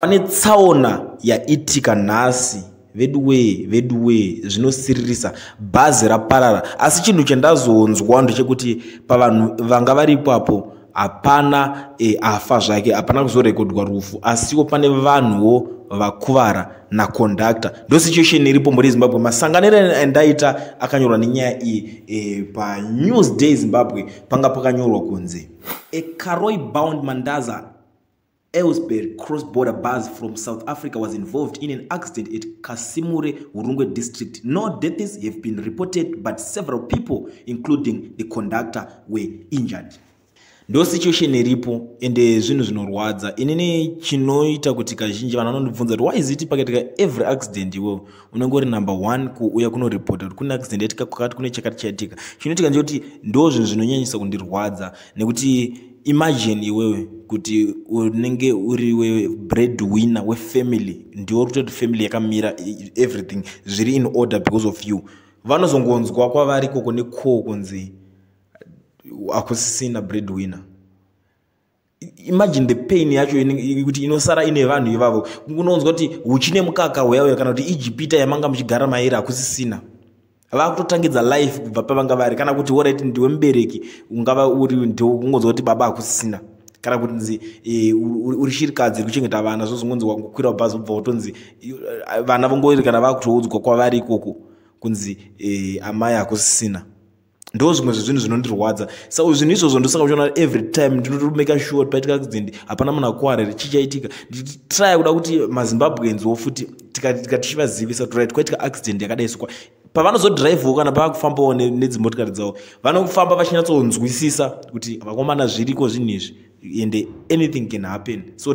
pane tsaona yaitika nhasi veduwee veduwee zvinosiririsa bhazi raparara asi chinhu chandazonzwa ndechekuti pavanhu vanga vari ipapo hapana e, afa zvake hapana kuzorekodwa rufu asiwo pane vanhuwo vakuvara nakondakta ndosituation iripo muri zimbabwe masanganiro andaita akanyorwa nenyaya iyi e, panews day zimbabwe panga pakanyorwa kunzi a caroy bound mandaza Elsberg cross-border bus from South Africa was involved in an accident at Kasimure, Hurungwe district. No deaths have been reported, but several people, including the conductor, were injured. ndo situation iripo ende zvinhu zvinorwadza inini chinoita kuti kazhinji vanhu vanondibvunza kuti why is it pakaitika every accident iwewo unenge uri number one kuuya kunoripota kuti kune accident yaitika kwakati kune chakati chaitika chinoitika ndechekuti ndo zvinhu zvinonyanyisa kundirwadza nekuti imagine iwewe kuti unenge uri we bread winner wefamily ndiwo uri kutoti family yakamira e- everything zviri in order because of you vanozongonzwa kwavari koko nekoo kunzi hakusisina bread winner imagine the pain yacho inenge- kuti inosara ine vanhu ivavo unonzwa kuti huchi nemukaka hweyawe kana kuti ijipita yamanga muchigara mairi hakusisina vakutotangidza life kubva pavanga vari kana kuti worit ndiwe mubereki ungava uri ndokungonzwa kuti baba hakusisina kana kuti nzi e, uri shirikadzi kuchengeta vana zvozongonzi wangokwira bhazi ubva wotonzi e, vana vongori kana vakutoudzwa kwavari ikoko kunzi e, amai hakusisina ndo zvimwe zvezvinhu zvinondirwadza sa zvinhu izvozvo ndosaka uchiona every time ndinotomaker sure kuti paitika accident hapana munhu akuwara here chichaitika ndichitraya kuda kuti mazimbabweans wo futi tikatika tichivazivisa kuti right kwaitika accident yakadai sokwa pavanozodhiraivhawo kana paakufambawo nedzimotikari dzavo vanofamba vachinyatsonzwisisa kuti vakomana zviriko zvinhu izvi ende anything can happen so